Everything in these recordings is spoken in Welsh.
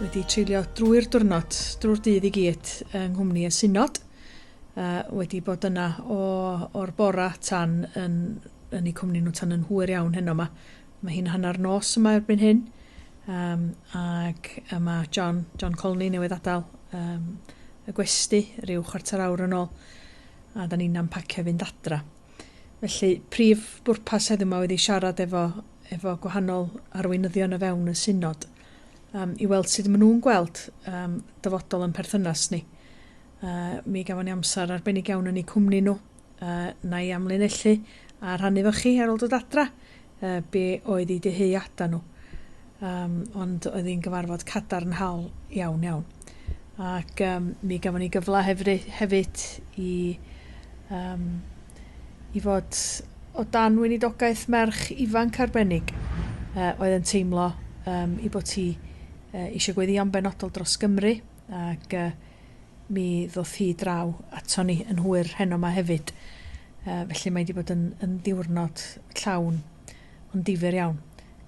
wedi treulio drwy'r diwrnod, drwy'r dydd i gyd yng nghwmni y synod, a wedi bod yna o, o'r bora tan yn, yn eu cwmni nhw tan yn hwyr iawn heno yma. Mae hi'n hanner nos yma erbyn hyn, um, ac yma John, John Colney newydd adael um, y gwesti rhyw chwarter awr yn ôl, a da ni'n ampacio fynd adra. Felly, prif bwrpas heddiw yma oedd i siarad efo, efo gwahanol arweinyddion o fewn y synod, Yym, i weld sud ma' nhw'n gweld yym dyfodol yn perthynas ni. Yy, mi gafon ni amser arbennig iawn yn eu cwmni nhw. Yy, na i amlinellu a rhannu efo chi ar ôl dod adra yy be' oedd eu dyheada nhw. Yym, ond oedd hi'n gyfarfod cadarnhaol iawn iawn. Ac yym mi gafon ni gyfle hefry- hefyd i yym i fod o dan weinidogaeth merch ifanc arbennig yy oedd yn teimlo yym 'i bod hi yy isio gweddïo'n benodol dros Gymru ac yy mi ddoth hi draw ato ni yn hwyr heno 'ma hefyd yy felly mae 'di bod yn yn ddiwrnod llawn Yn ddifyr iawn.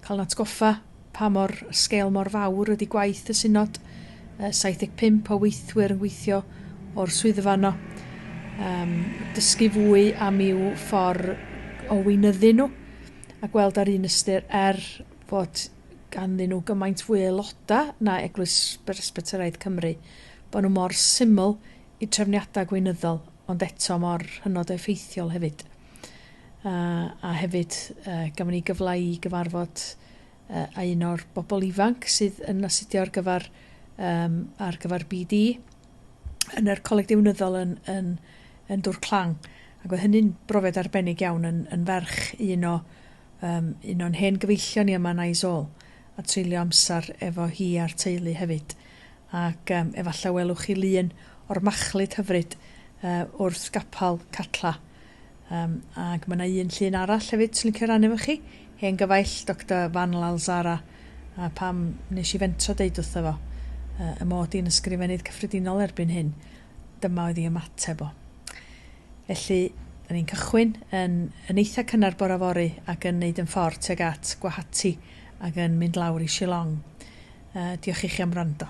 Cael yn atgoffa pa mor sgêl mor fawr ydy gwaith y Synod. 75 o weithwyr yn gweithio o'r swyddfa yno. Um, dysgu fwy am i'w ffordd o weinyddu nhw a gweld ar un ystyr er fod ganddyn nhw gymaint fwy aeloda na Eglwys Beresbyteraidd Cymru, bod nhw mor syml i trefniadau gweinyddol ond eto mor hynod o effeithiol hefyd. Yy a hefyd yy gafon ni gyfla i gyfarfod yy a un o'r bobl ifanc sydd yn astudio ar gyfer yym ar gyfer Bee Dee yn yr Coleg Deunyddol yn yn yn Dwr Clang. Ac oedd hynny'n brofiad arbennig iawn yn yn ferch un o yym un o'n hen gyfeillion ni yma yn Eyes All a treulio amser efo hi a'r teulu hefyd. Ac yym efalla welwch chi lun o'r machlud hyfryd yy wrth gapal Catla. Yym, ac ma' 'na un llun arall hefyd swn licio rannu efo chi, hen gyfaill Doctor Van Lalzara, a pam nes i fentro deud wrtho fo yy y mod i'n Ysgrifennydd Cyffredinol erbyn hyn, dyma oedd 'i ymateb o. Felly, 'dan ni'n cychwyn yn yn eitha cynnar bora fory ac yn neud 'yn ffor tuag at Guwahati ac yn mynd lawr i Shillong. Yy, diolch i chi am wrando.